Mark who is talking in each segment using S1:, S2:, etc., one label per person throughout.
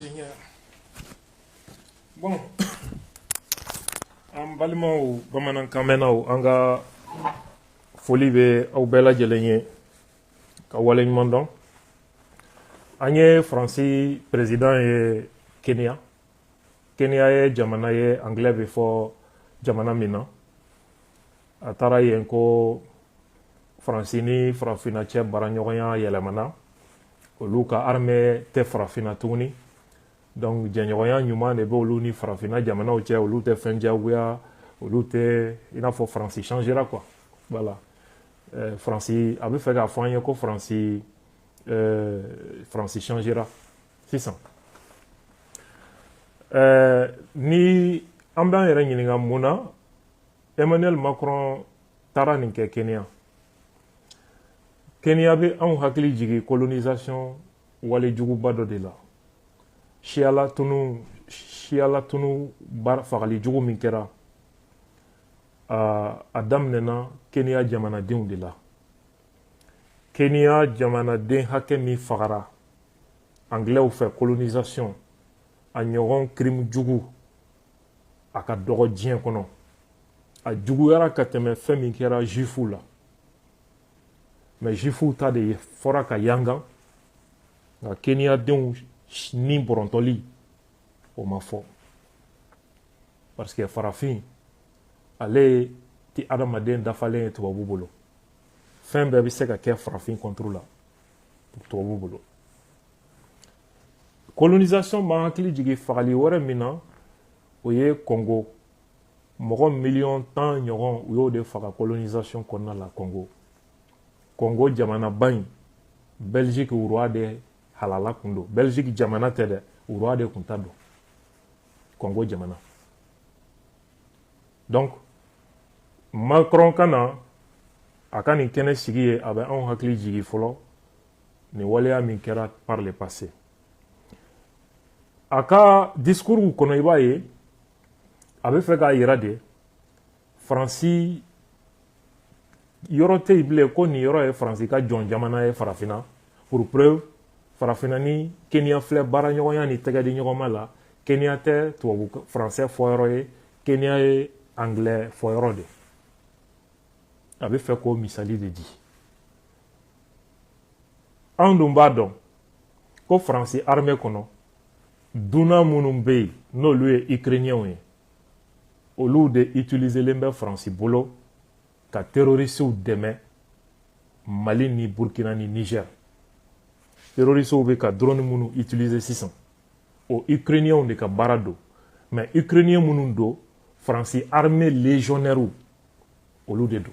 S1: Seigneur. Bon, an balimaw bamanankan mɛnnaw an ka foli bɛ aw bɛɛ lajɛlen ye ka wale ɲuman dɔn an ye faransi perezidan ye kenya kenya ye jamana ye angilɛ bɛ fɔ jamana min na a taara yen ko faransi ni farafinna cɛ baaraɲɔgɔnya yɛlɛmana olu ka armée tɛ farafinna tuguni donc jɛɲɔgɔnya ɲuman de bɛ olu ni farafinna jamanaw cɛ olu tɛ fɛn jagoya olu tɛ i n'a fɔ faransi changera quoi voilà euh, faransi a bɛ fɛ k'a fɔ an ye ko faransi euh, faransi changera sisan euh, ni an b'an yɛrɛ ɲininka mun na emmanuel macron taara nin kɛ kenya kenya bɛ anw hakili jigin colonisation wale juguba dɔ de la siya latunu siya latunu baara fagali jugu min kɛra a daminɛna kenya jamanadenw de la kenya jamanaden hakɛ min fagara anglɛw fɛ colonisation a ɲɔgɔn crime jugu a ka dɔgɔ diɲɛ kɔnɔ a juguyara ka tɛmɛ fɛn min kɛra juifuw la mais juifuw ta de fɔra ka yangan nka keniyadenw ni bɔrɔntɔli o ma fɔ parce que farafin ale ti adamaden dafalen ye tubabu bolo fɛn bɛɛ bɛ se ka kɛ farafin contre la tubabu bolo colonisation b'an hakili jigin fagali wɛrɛ min na o ye congo mɔgɔ miliyɔn tan ɲɔgɔn u y'o de faga colonisation kɔnɔna la congo congo jamanaba in belgique roi de halala kun don belgique jamana tɛ dɛ roi de kun ta don congo jamana donc macron ka na a ka nin kɛnɛ sigi ye a bɛ anw hakili jigi fɔlɔ nin waleya min kɛra par le passé a ka discours kɔnɔ i b'a ye a bɛ fɛ k'a yira de faransi yɔrɔ tɛ yen bilen ko nin yɔrɔ ye faransi ka jɔn jamana ye farafinna pour preuve farafinna ni keniya filɛ baaraɲɔgɔnya ni tɛgɛdiɲɔgɔnma la keniya tɛ tubabu faransɛ fɔyɔrɔ ye keniya ye angilɛ fɔyɔrɔ de a bɛ fɛ k'o misali de di anw dun b'a dɔn ko faransi armée kɔnɔ dunan minnu bɛ yen n'olu ye ukrainiens ye olu de utiliselen bɛ faransi bolo ka terroristew dɛmɛ mali ni burkina ni niger terroristew bɛ ka drone minnu utiliser sisan o ukrainiens de ka baara don mais ukrainiens minnu don faransi armée légionnaires olu de don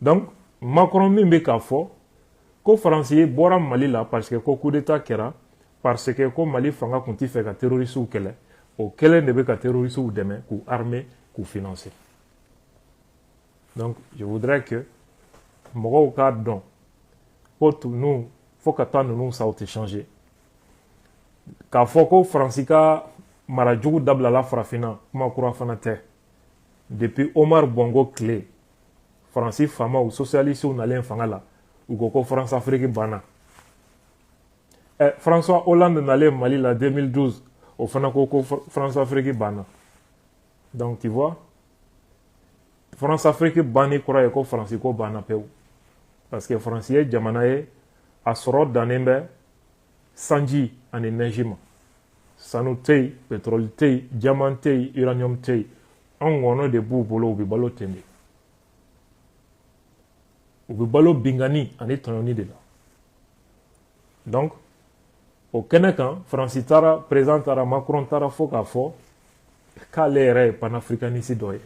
S1: donc makɔrɔn min bɛ k'a fɔ ko faransi bɔra mali la parce que ko kudeta kɛra parce que ko mali fanga tun t'a fɛ ka terorisiw kɛlɛ o kelen de bɛ ka terorisiw dɛmɛ k'u arme k'u financer donc je voudrais que mɔgɔw k'a dɔn ko ninnu fo ka taa ninnu sa u tɛ changer k'a fɔ ko faransi ka mara jugu dabilala farafinna kuma kura fana tɛ depuis omar bongo tile faransi faamaw sosiyalisiw nalen fanga la u ko ko france afiriki banna eh, françois hollande nalen mali la 2012 o fana ko ko france afiriki banna donc tu vois france afiriki banni kɔrɔ ye ko faransi ko banna pewu parce que faransi ye jamana ye a sɔrɔ dannen bɛ sanji ani nɛji ma sanu tɛ yen pɛtɔrɔli tɛ yen jaman tɛ yen iraniyɔmu tɛ yen an ŋɔnɔ de b'u bolo u bɛ balo ten de u bɛ balo binkanni ani tɔɲɔni de la donc o kɛnɛ kan faransi taara perezidan taara macron taara fo k'a fɔ k'ale yɛrɛ ye panafrikanisi dɔ ye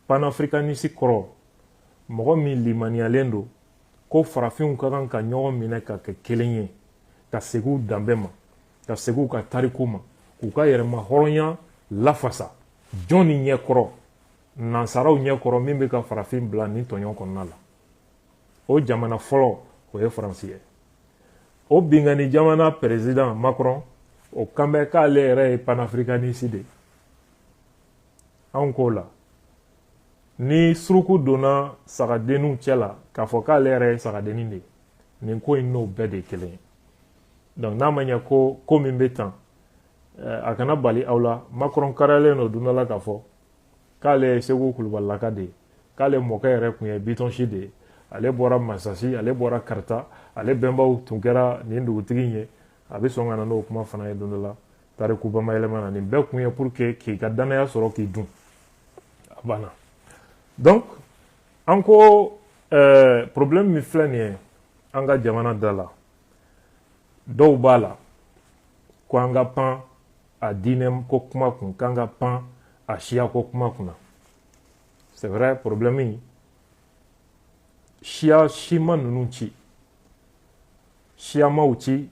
S1: panafrikanisi kɔrɔ mɔgɔ min limaniyalen don ko farafinw ka kan ka ɲɔgɔn minɛ ka kɛ kelen ye ka segin u danbe ma ka segin u ka tariku ma k'u ka yɛrɛma hɔrɔnya lafasa jɔn ni ɲɛkɔrɔ nansaraw ɲɛkɔrɔ min bɛ ka farafin bila nin tɔɲɔn kɔnɔna la o jamana fɔlɔ o ye faransi ye o binkanni jamana perezidan macron o kan bɛ k'ale yɛrɛ ye panafrikanisi de ye anw k'o la ni suruku donna sagadenninw cɛ la k'a fɔ k'ale yɛrɛ ye sagadennin de ye nin ko in n'o bɛɛ de ye kelen ye donc n'a ma ɲɛ ko ko min bɛ tan eh, a kana bali aw la makɔrɔn kariyalen don don dɔ la k'a fɔ k'ale ye segu kulubalilaka de ye k'ale mɔkɛ yɛrɛ tun ye bitɔnsi de ye ale bɔra masasi ale bɔra kaarta ale bɛnbaw tun kɛra nin dugutigi ye a bɛ sɔn ka na n'o kuma fana ye don dɔ la tariku bamayɛlɛma na nin bɛɛ kun ye pour que k'i ka dannaya sɔrɔ k'i dun a banna donc an ko euh, problème min filɛ nin ye an ka jamana da la dɔw b'a la ko an ka pan a diinɛ ko kuma kun k'an ka pan a siya ko kuma kunna c'est vrai problème in siya si ma ninnu ci siya m'u ci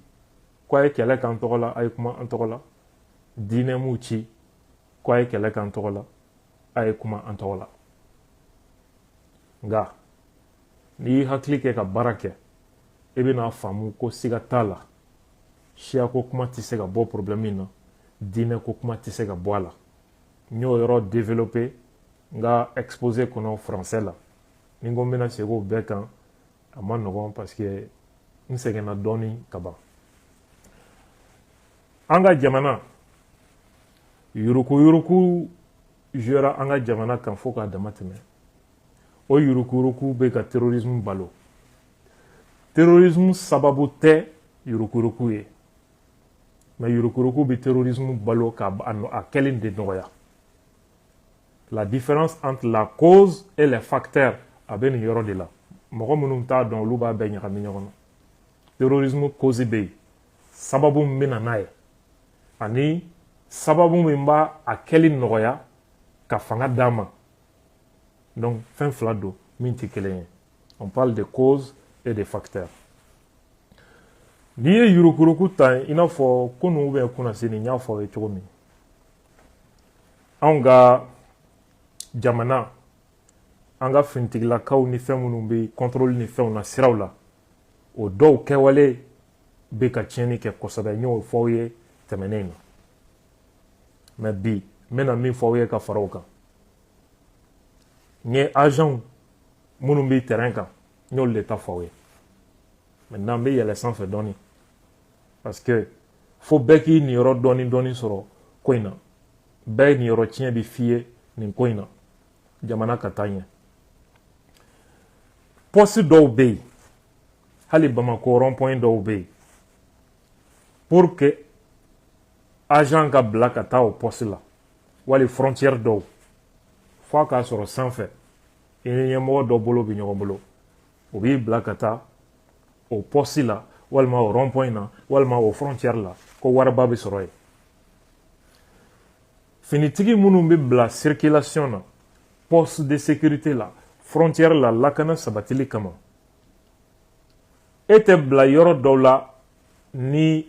S1: ko a ye kɛlɛ k'an tɔgɔ la a ye kuma an tɔgɔ la diinɛ m'u ci ko a ye kɛlɛ k'an tɔgɔ la a ye kuma an tɔgɔ la nka n'i y'i hakili kɛ ka baara kɛ i bɛna faamu ko siga t'a la siyako kuma tɛ se ka bɔ problème in na diinɛ ko kuma tɛ se ka bɔ a la n y'o yɔrɔ développé n ka exposé kɔnɔ français la ni n ko n bɛna segin o bɛɛ kan a man nɔgɔn parce que n sɛgɛnna dɔɔni ka ban an ka jamana yurukuyuruku juyara an ka jamana kan fo k'a dama tɛmɛ o yurukuyuruku bɛ ka terrorisme balo terrorisme sababu tɛ yurukuyuruku ye mais yurukuyuruku bɛ terrorisme balo ka a kɛlen de nɔgɔya la différence entre la cause et les facteurs a bɛ nin yɔrɔ de la mɔgɔ minnu t'a dɔn olu b'a bɛɛ ɲagami ɲɔgɔn na terrorisme cause bɛ yen sababu min bɛ na n'a ye ani sababu min b'a a kɛli nɔgɔya ka fanga d'a ma donc fɛn fila don min tɛ kelen ye on parle de cause et de facteurs n'i ye yurukuyuruku ta i n'a fɔ kunu ou bien kunnasini n y'a fɔ aw ye cogo min anw ka jamana an ka finitigilakaw ni fɛn minnu bɛ contrôle ni fɛnw na siraw la o dɔw kɛwale bɛ ka tiɲɛni kɛ kosɛbɛ n y'o fɔ aw ye tɛmɛnen na mais bi n bɛna min fɔ aw ye ka fara o kan n ye agentw minnu bɛ terrain kan n y'olu de ta fɔ aw ye maintenant n bɛ yɛlɛ sanfɛ dɔɔni parce que fo bɛɛ k'i niyɔrɔ dɔɔni dɔɔni sɔrɔ ko in na bɛɛ niyɔrɔ tiɲɛ bɛ f'i ye nin ko in na jamana ka taa ɲɛ poste dɔw bɛ yen hali bamakɔ rond-point dɔw bɛ yen pour que agent ka bila ka taa o poste la wali frontière dɔw f'a k'a sɔrɔ sanfɛ i ni ɲɛmɔgɔ dɔ bolo bɛ ɲɔgɔn bolo o b'i bila ka taa o poste la walima o rond-point na walima o frontière la ko wariba bɛ sɔrɔ yen finitigi minnu bɛ bila circulation na poste de sécurité la frontière la lakana sabatili kama e tɛ bila yɔrɔ dɔw la ni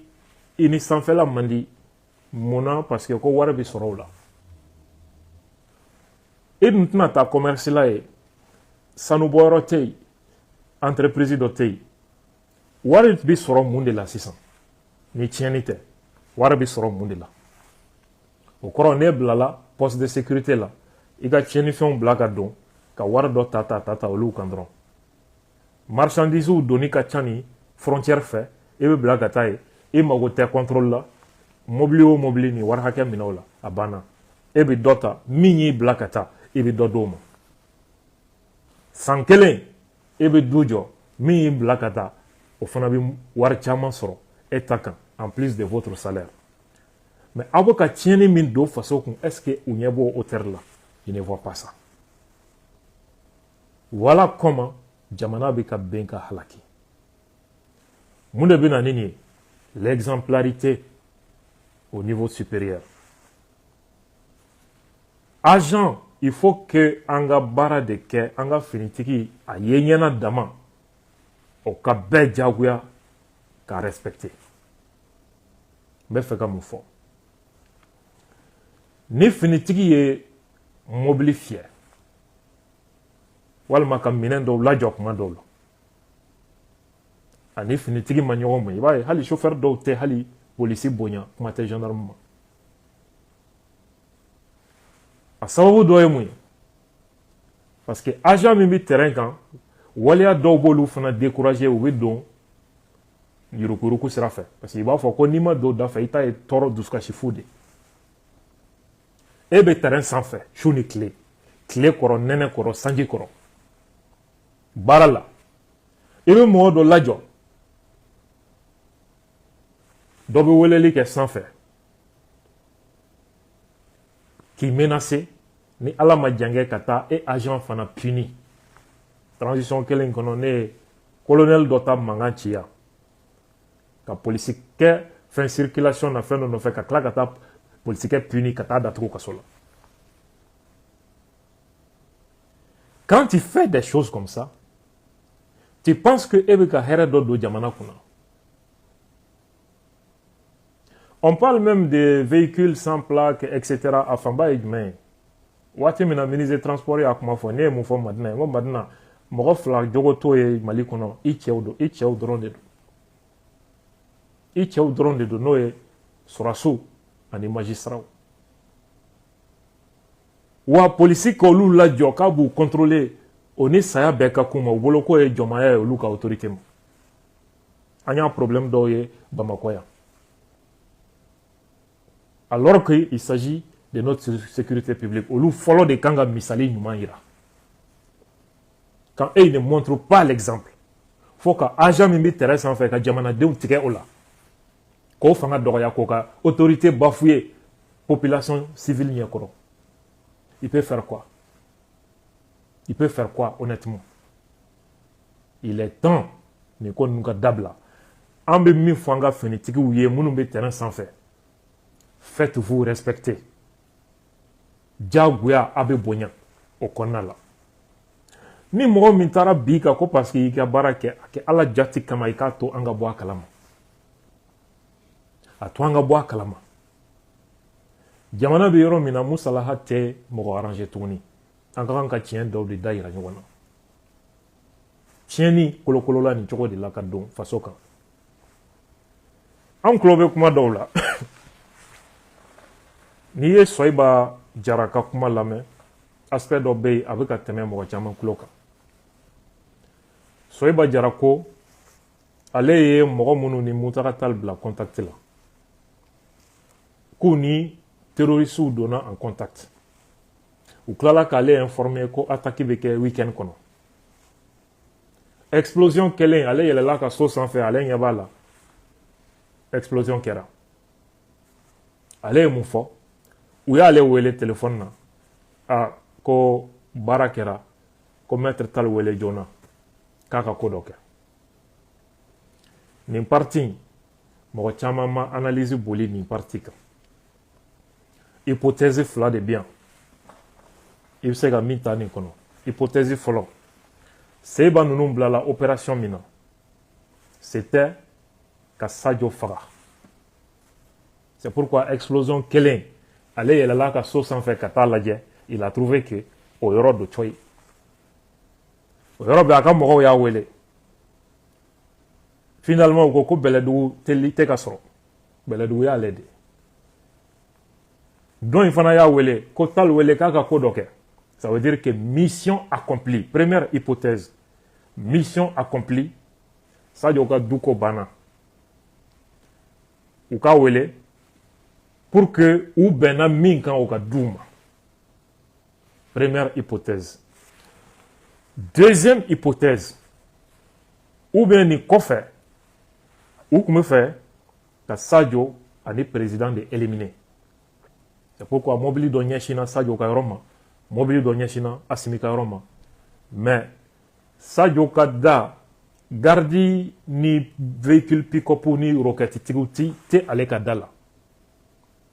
S1: i ni sanfɛla man di mun na parce que ko wari bɛ sɔrɔ o la e dun tɛna taa commerce la ye sanubɔyɔrɔ tɛ yen entreprise dɔ tɛ yen wari bɛ sɔrɔ mun de la sisan ni tiɲɛni tɛ wari bɛ sɔrɔ mun de la o kɔrɔ n'e bilala poste de sécurité la i ka tiɲɛnifɛnw bila ka don ka wari dɔ ta ta ta ta olu kan dɔrɔn marchandisew donni ka ca nin frontière fɛ e bɛ bila ka taa yen e mago tɛ contrôle la mobili o mobili nin wari hakɛ minɛ o la a banna e bɛ dɔ ta min y'i bila ka taa i bɛ dɔ d'o ma san kelen e bɛ du jɔ min y'i bila ka taa o fana bɛ wari caman sɔrɔ e ta kan en plus de votre salaire mais aw bɛ ka tiɲɛni min don faso kun est ce que u ɲɛ b'o hauteur la ils ne voient pas ça voilà comment jamana bɛ ka bin ka halaki mun de bɛ na ni nin ye l'exemplarité au niveau supérieur agent il faut que an ka baara de kɛ an ka finitigi a ye ɲɛ na dama o ka bɛɛ jagoya k'a respecter n bɛ fɛ ka mun fɔ ni finitigi ye mobili fiyɛ walima ka minɛn dɔw lajɔ kuma dɔw la ani finitigi ma ɲɔgɔn ma i b'a ye hali chauffeur dɔw tɛ hali polisi bonya kuma tɛ gendarme ma a sababu dɔ ye mun ye parce que agent min bɛ terrain kan waleya dɔw b'olu fana décourager u bɛ don yurukuyuruku sira fɛ parce que i b'a fɔ ko n'i ma don da fɛ i ta ye tɔɔrɔ dusukasi fu de e bɛ terrain sanfɛ su ni tile tile kɔrɔ nɛnɛ kɔrɔ sanji kɔrɔ baara la i bɛ mɔgɔ dɔ lajɔ dɔ bɛ weleli kɛ sanfɛ k'i menacer ni ala ma jankɛ ka taa e agent fana puni transition kelen kɔnɔ ne ye colonel dɔ ta mankan ci yan ka polisikɛ fɛn circulation na fɛn dɔ nɔfɛ ka tila ka taa polisikɛ puni ka taa datugu kaso la quand tu fais des choses comme ça tu penses que e bɛ ka hɛrɛ dɔ don jamana kunna On parle même des véhicules sans plaque, etc. a fanba ye jumɛn ye. Waati min na ministre des transports y'a kuma fɔ ne ye mun fɔ madina n ko madina mɔgɔ fila jogo t'o ye mali kɔnɔ i cɛw don i cɛw dɔrɔn de don i cɛw dɔrɔn de don n'o ye sɔrɔdasiw ani magistratw wa polisi ka olu lajɔ k'a b'u contrôler o ni saya bɛɛ ka kan u ma u bolo k'o ye jɔnmaya ye olu ka autorité ma an y'a problème dɔw ye bamakɔ yan alors que il s'agit de notre sécurité publique olu fɔlɔ de kan ka misali ɲuman yira quand eux ne montrent pas l'exemple fo ka agent min bɛ terrain sanfɛ ka jamanadenw tigɛ o la k'o fanga dɔgɔya k'o ka autorité bafouer population civile ɲɛkɔrɔ il peut faire quoi il peut faire quoi honnêtement il est temps nin ko ninnu ka dabila an bɛ min fɔ an ka finitigiw ye minnu bɛ terrain sanfɛ faites vous respecter diyagoya a bɛ bonya o kɔnɔna la ni mɔgɔ min taara b'i kan ko parce que i ka baara kɛ a kɛ ala jati kama i k'a to an ka bɔ a kalama a to an ka bɔ a kalama jamana bɛ yɔrɔ min na musalaha tɛ mɔgɔ arranger tuguni an ka kan ka tiɲɛ dɔw de da yira ɲɔgɔn na tiɲɛni kolokolola nin cogo de la ka don faso kan an tulo bɛ kuma dɔw la n'i ye sɔyiba jara ka kuma lamɛn aspect dɔ bɛ yen a bɛ ka tɛmɛ mɔgɔ caman tulo kan sɔyiba jara ko ale ye mɔgɔ minnu ni muntaga tali bila contact la k'u ni terrorisiw donna en contact u tilala k'ale informer ko attaque bɛ kɛ weekend kɔnɔ explosion kɛlen ale yɛlɛla a ka so sanfɛ ale ɲɛ b'a la explosion kɛra ale ye mun fɔ u y'ale wele telefɔni na ko baara kɛra ko maître tali wele joona k'a ka ko dɔ kɛ nin partie in mɔgɔ caman ma analyse boli nin partie kan hypothèse fila de bɛ yan i bɛ se ka min ta nin kɔnɔ hypothèse fɔlɔ sɔyiba ninnu bilala opération min na c'était ka sajo faga c'est pourquoi explosion kɛlen ale yɛlɛla a ka so sanfɛ ka taa lajɛ il a trouvé que o yɔrɔ don cɔyi o yɔrɔ bɛɛ a ka mɔgɔw y'a wele finalement u ko ko bɛlɛdugu teli tɛ ka sɔrɔ bɛlɛdugu y'ale de dɔ in fana y'a wele ko tall wele k'a ka ko dɔ kɛ ça veut dire que mission accomplie première hypothèse mission accomplie sadio ka du ko banna u k'a wele pour que u bɛnna min kan u k'a d'u ma Première hypothèse. Deuxième hypothèse. Ou bien ni kɔfɛ u tun bɛ fɛ ka sajo ani président de éliminer c'est pourquoi mobili dɔ ɲɛsinna sajo ka yɔrɔ ma mobili dɔ ɲɛsinna asimi ka yɔrɔ ma mais sajo ka da gardi ni véhicule pick-up ni roquette tigiw tun tɛ ale ka da la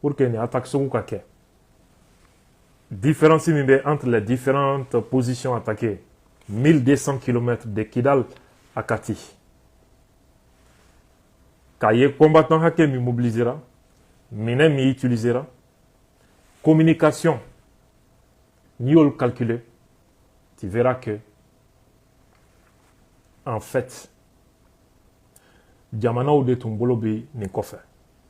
S1: pour que nin attaque sugu ka kɛ différence min bɛ entre les différentes positions attaquées 1200 km de Kidal à Kati k'a ye combattant hakɛ min mobilisera minɛn min utilisera communication n'i y'olu calculer tu verras que en fait jamanaw de tun bolo bɛ nin kɔfɛ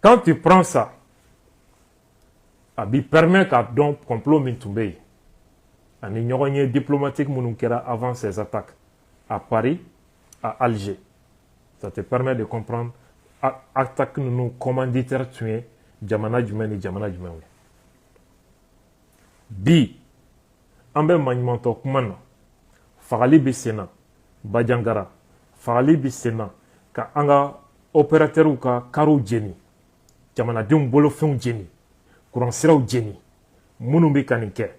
S1: Quand tu prends ça, a b'i permet k'a dɔn complot min tun bɛ yen ani ɲɔgɔnye diplomatique minnu kɛra avant ces attaques à Paris à Alger ça te permet de comprendre attaque ninnu commanditaire tun ye jamana jumɛn ni jamana jumɛnw ye bi an bɛ maɲumantɔ kuma na fagali bɛ sen na bajangara fagali bɛ sen na ka an ka operatɛriw ka kariw jeni jamanadenw bolofɛnw jeni kuransiraw jeni minnu bɛ ka nin kɛ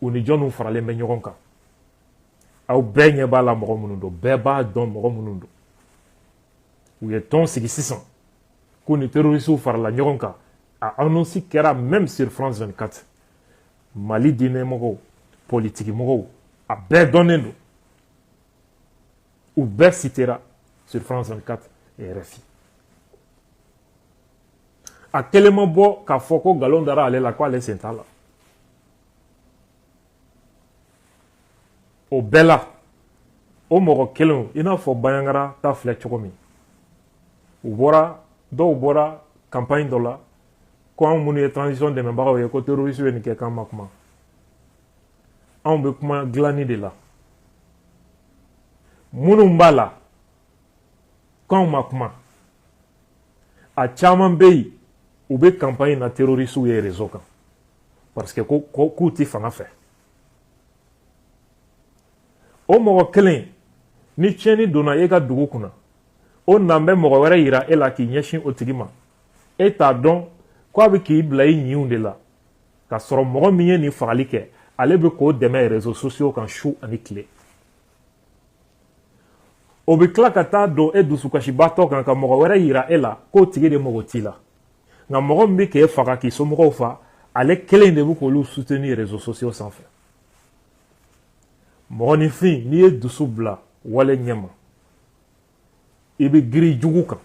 S1: u ni jɔnw faralen bɛ ɲɔgɔn kan aw bɛɛ ɲɛ b'a la mɔgɔ minnu don bɛɛ b'a dɔn mɔgɔ minnu don u ye tɔn sigi sisan k'u ni terrorisiw farala ɲɔgɔn kan a anonsi kɛra même sur france 24 mali diinɛmɔgɔw politikimɔgɔw a bɛɛ dɔnnen don u bɛɛ sitera sur france 24 et rfi a kelen ma bɔ k'a fɔ ko nkalon dara ale la ko ale sen t'a la o bɛɛ la o mɔgɔ kelenw i n'a fɔ bajangara ta filɛ cogo min dɔw bɔra campagne dɔ la ko anw minnu ye transition dɛmɛbagaw ye ko terroriste bɛ nin kɛ k'an ma kuma anw bɛ kuma dilanni de la minnu b'a la k'anw ma kuma a caman bɛ yen u bɛ campagne na terroristes ye réseau kan parce que k'u tɛ fanga fɛ o mɔgɔ kelen ni tiɲɛni donna e ka dugu kunna o nan bɛ mɔgɔ wɛrɛ yira e la k'i ɲɛsin o tigi ma e t'a dɔn ko a bɛ k'i bila i ɲinw de la k'a sɔrɔ mɔgɔ min ye nin fagali kɛ ale bɛ k'o dɛmɛ rezo sosiyo kan su ani tile o bɛ tila ka taa don e dusukasibaatɔ kan ka mɔgɔ wɛrɛ yira e la k'o tigi de mago t'i la nka mɔgɔ min bɛ k'e faga k'i somɔgɔw fa ale kelen de bɛ k'olu soutenir réseaux sociaux sanfɛ mɔgɔninfin n'i ye dusu bila wale ɲɛma i bɛ girin jugu kan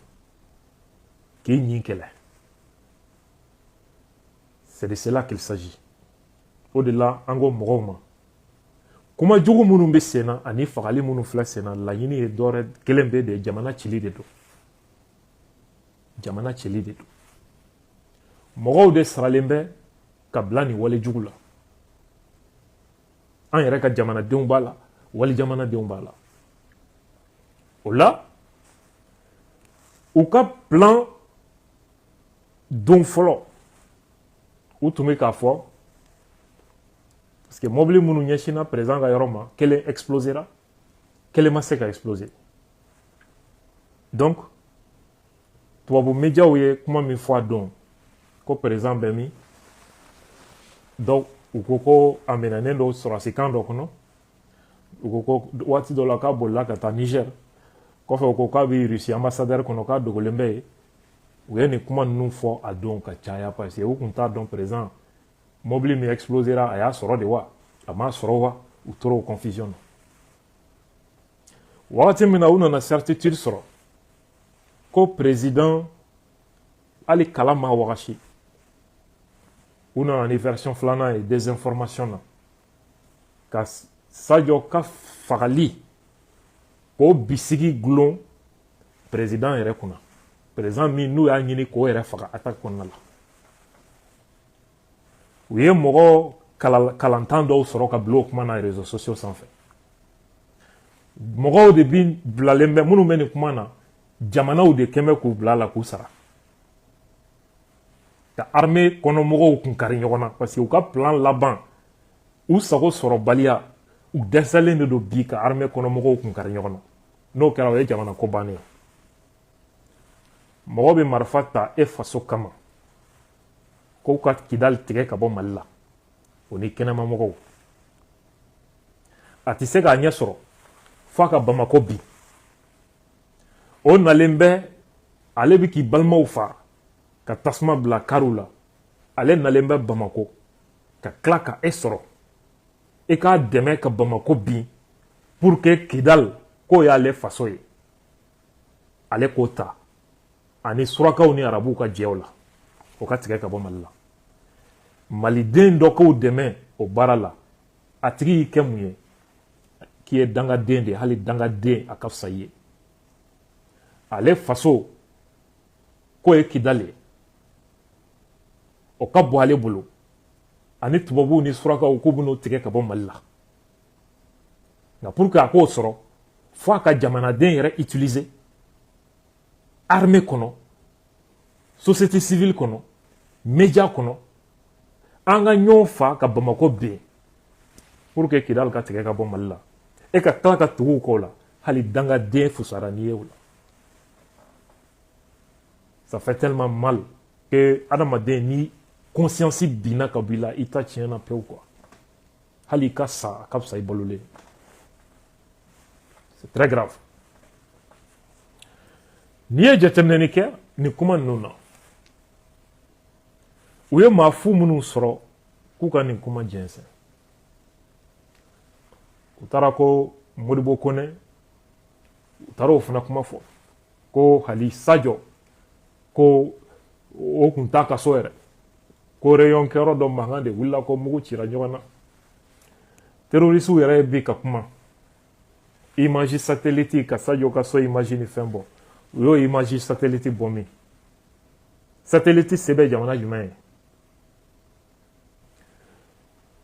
S1: k'i ɲin kɛlɛ c'est de cela qu'il s'agit o de la an ko mɔgɔw ma kuma jugu minnu bɛ sen na ani fagali minnu filɛ sen na laɲini ye dɔwɛrɛ kelen pe de jamana cili de don jamana cili de don mɔgɔw de saralen bɛ ka bila nin wale jugu la an yɛrɛ ka jamanadenw b'a la wali jamanadenw b'a la o la u ka plan don fɔlɔ u tun bɛ k'a fɔ parce que mɔbili minnu ɲɛsinna président ka yɔrɔ ma kelen explosera kelen ma se ka exploser donc tubabu médiaw ye kuma min fɔ a don ko président bɛ min donc u ko ko a minɛnen don sɔrɔdasikan dɔ kɔnɔ u ko ko waati dɔ la k'a bolila ka taa niger kɔfɛ u ko k'a bɛ russie ambassadeur kɔnɔ k'a dogolen bɛ yen u ye nin kuma ninnu fɔ a don ka caya parce que u tun t'a dɔn président mobili min explosera a y'a sɔrɔ de wa a m'a sɔrɔ wa u tora o confusion na wagati min na u nana certitude sɔrɔ ko président hali kala ma wagasi u nana ni version filanan ye désinformation na ka sajɔ ka fagali k'o bisigi gulon président yɛrɛ kunna président min n'u y'a ɲini k'o yɛrɛ faga attaque kɔnɔna la u ye mɔgɔ kalantan dɔw sɔrɔ ka bila o kuma na réseaux sociaux sanfɛ mɔgɔw de bi bilalen bɛ minnu bɛ nin kuma na jamanaw de kɛlen bɛ k'u bila la k'u sara ka armée kɔnɔmɔgɔw kun kari ɲɔgɔn na parce que u ka plan laban u sago sɔrɔbaliya u dɛsɛlen de don bi ka armée kɔnɔmɔgɔw kun kari ɲɔgɔn na n'o kɛra o ye jamana ko bannen ye mɔgɔ bɛ marifa ta e faso kama ko ka kidali tigɛ ka bɔ mali la o ni kɛnɛmamɔgɔw a tɛ se k'a ɲɛ sɔrɔ f'a ka bamako bin o nalen bɛ ale bɛ k'i balimaw fa ka tasuma bila kariw la ale nalen bɛ bamako ka tila ka e sɔrɔ i k'a dɛmɛ ka bamako bin pour que kidal k'o y'ale faso ye ale k'o ta ani surakaw ni arabuw ka jɛ o la o ka tigɛ ka bɔ mali la maliden dɔ k'o dɛmɛ o baara la a tigi y'i kɛ mun ye k'i ye dangaden de hali dangaden a ka fisa i ye ale faso k'o ye kidali ye o ka bɔ ale bolo ani tubabuw ni surakaw k'u bɛn'o tigɛ ka bɔ mali la nka pour que a k'o sɔrɔ fo a ka jamanaden yɛrɛ utiliser armée kɔnɔ société civile kɔnɔ média kɔnɔ an ka ɲɔgɔn fa ka bamakɔ bin pour que kidali ka tigɛ ka bɔ mali la e ka tila ka tugu u kɔ la hali dangaden fusara n'i ye o la ça fait tellement mal que adamaden ni conscience binna ka bɔ i la i ta tiɲɛna pewu quoi hali i ka sa a ka fisa i balolen c'est très grave n'i ye jateminɛni kɛ nin kuma ninnu na u ye maa fu minnu sɔrɔ k'u ka nin kuma jɛnsɛn u taara ko modibo konɛ u taara o fana kuma fɔ ko hali sajo ko o kun t'a ka so yɛrɛ ko réunion kɛyɔrɔ dɔ mankan de wulila ko mugu cira ɲɔgɔn na terorisiw yɛrɛ bi ka kuma image satellite ka sajo ka so image ni fɛn bɔ u y'o image satellite bɔ min satellite se bɛ jamana jumɛn ye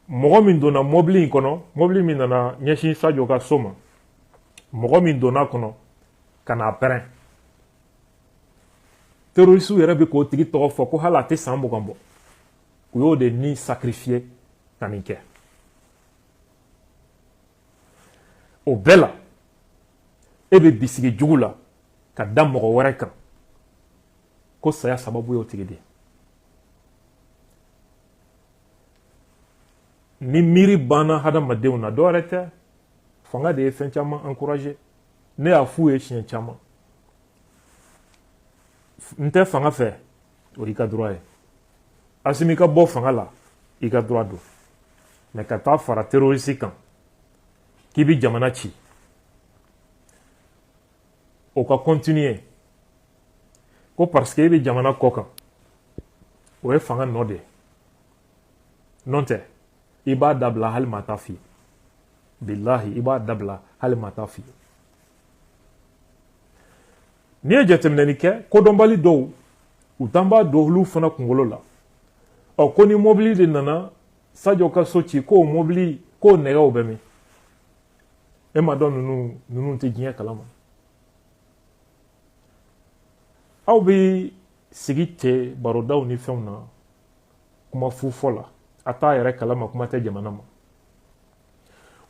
S1: mɔgɔ min donna mobili in kɔnɔ mobili min nana ɲɛsin sajo ka so ma mɔgɔ min donna kɔnɔ ka n'a pɛrɛn terorisiw yɛrɛ bɛ k'o tigi tɔgɔ fɔ ko hali a tɛ san mugan bɔ u y'o de ni sacrifier ka nin kɛ o bɛɛ la e bɛ bisigi jugu la ka da mɔgɔ wɛrɛ kan ko saya sababu y'o tigi de ye ni miiri banna hadamadenw na dɔ wɛrɛ tɛ fanga de ye fɛn caman encourager ne y'a f'u ye siɲɛ caman n tɛ fanga fɛ o y'i ka droit ye asimi ka bɔ fanga la i ka droit don mais ka taa fara terrorisi kan k'i bi jamana ci o ka continuer ko parce que i bɛ jamana kɔkan o ye fanga nɔ de ye n'o tɛ i b'a dabila hali maa t'a f'i ye bilahi i b'a dabila hali maa t'a f'i ye n'i ye jateminɛni kɛ kodɔnbali dɔw u t'an b'a don olu fana kunkolo la ɔ ko ni mobili de nana sajo ka so ci k'o mobili k'o nɛgɛw bɛ min e ma dɔn ninnu tɛ diɲɛ kalama aw bɛ sigi cɛ barodaw ni fɛnw na kuma fu fɔ la a t'a yɛrɛ kalama kuma tɛ jamana ma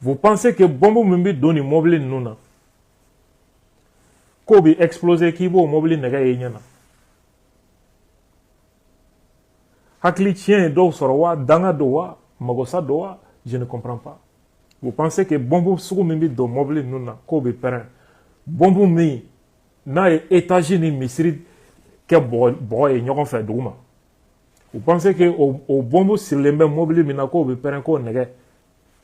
S1: vous pensez que bɔnbu min bɛ don nin mɔbili ninnu na k'o bɛ exploser k'i b'o mɔbili nɛgɛ ye i ɲɛ na hakili tiɲɛ ye dɔw sɔrɔ wa danga don wa magosa don wa je ne comprends pas vous pensez que bɔnbu sugu min bɛ don mɔbili ninnu na k'o bɛ pɛrɛn bɔnbu min n'a ye etazi ni misiri kɛ bɔgɔ ye ɲɔgɔn fɛ duguma vous pensez que o o bɔnbu sirilen bɛ mɔbili min na k'o bɛ pɛrɛn k'o nɛgɛ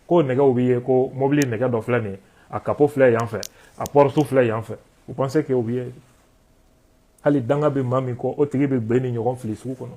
S1: k'o nɛgɛw bɛ ye ko mɔbili nɛgɛ dɔ filɛ nin ye a kapo filɛ yan fɛ a porte filɛ yan fɛ vous pensez que o bɛ ye hali danga bɛ maa min kɔ o tigi bɛ bin nin ɲɔgɔn fili sugu kɔnɔ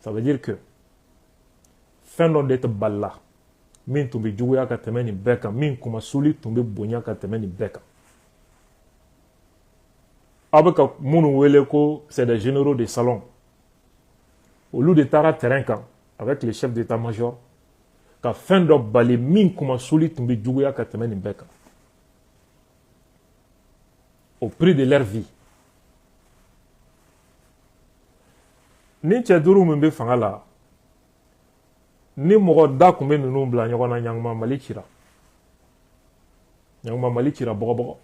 S1: Ça veut dire que fɛn dɔ de tɛ balila min tun bɛ juguya ka tɛmɛ nin bɛɛ kan min kunmasuli tun bɛ bonya ka tɛmɛ nin bɛɛ kan aw bɛ ka minnu wele ko c'est des généraux de salon olu de taara terrain kan avec le chef d'état major ka fɛn dɔ bali min kunmasuli tun bɛ juguya ka tɛmɛ nin bɛɛ kan au prix de leur vie nin cɛ duuru min bɛ fanga la ni mɔgɔ da tun bɛ ninnu bila ɲɔgɔn na ɲanguma mali cira ɲanguma mali cira bɔgɔbɔgɔ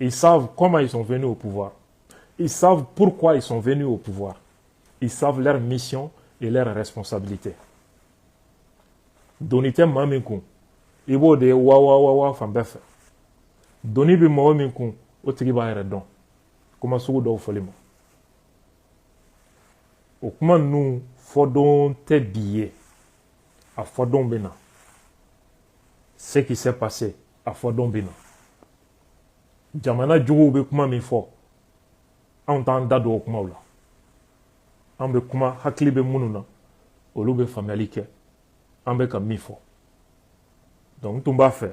S1: ils savent comment ils sont venus au pouvoir ils savent pourquoi ils sont venus au pouvoir ils savent leur mission et leur responsabilité doni tɛ maa min kun i b'o de ye wa wa wa wa fan bɛɛ fɛ doni bɛ mɔgɔ min kun o tigi b'a yɛrɛ dɔn kuma sugu dɔw fɔli ma o kuma ninnu fɔdon tɛ bi ye a fɔdon bɛ na ce qui s'est passé a fɔdon bɛ na jamana juguw bɛ kuma min fɔ anw t'an da don o kumaw la an bɛ kuma hakili bɛ minnu na olu bɛ faamuyali kɛ an bɛ ka min fɔ donc n tun b'a fɛ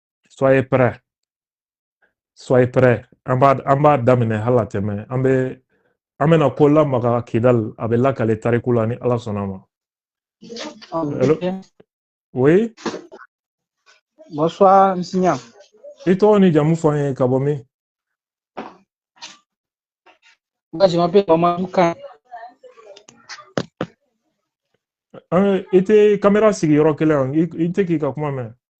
S1: soyez prêts soyez prêts an b'a an b'a daminɛ hala tɛmɛ an bɛ an bɛna ko lamaga kidal a bɛ lakale tariku la ni ala sɔnna ma Hello? oui
S2: bonsoir monsieur i tɔgɔ
S1: ni jamu fɔ an ye ka bɔ
S2: min moi je m'appelle Mamadou Kan
S1: an i tɛ kamera sigi yɔrɔ kelen yan i i tɛ k'i ka kuma mɛn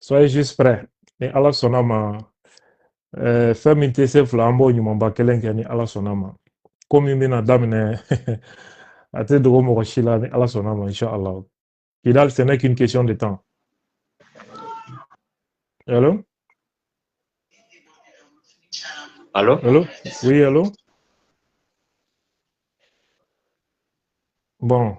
S1: soyez juste prêt ni ala sɔnna ma eh, fɛn min tɛ se fila an b'o ɲumanba kelen kɛ ni ala sɔnna ma ko min bɛna daminɛ a tɛ dogo mɔgɔ si la ni ala sɔnna ma inshallah kidal ce n'est qu'une question de temps Allô
S3: Allô Allô Oui,
S1: allô Bon,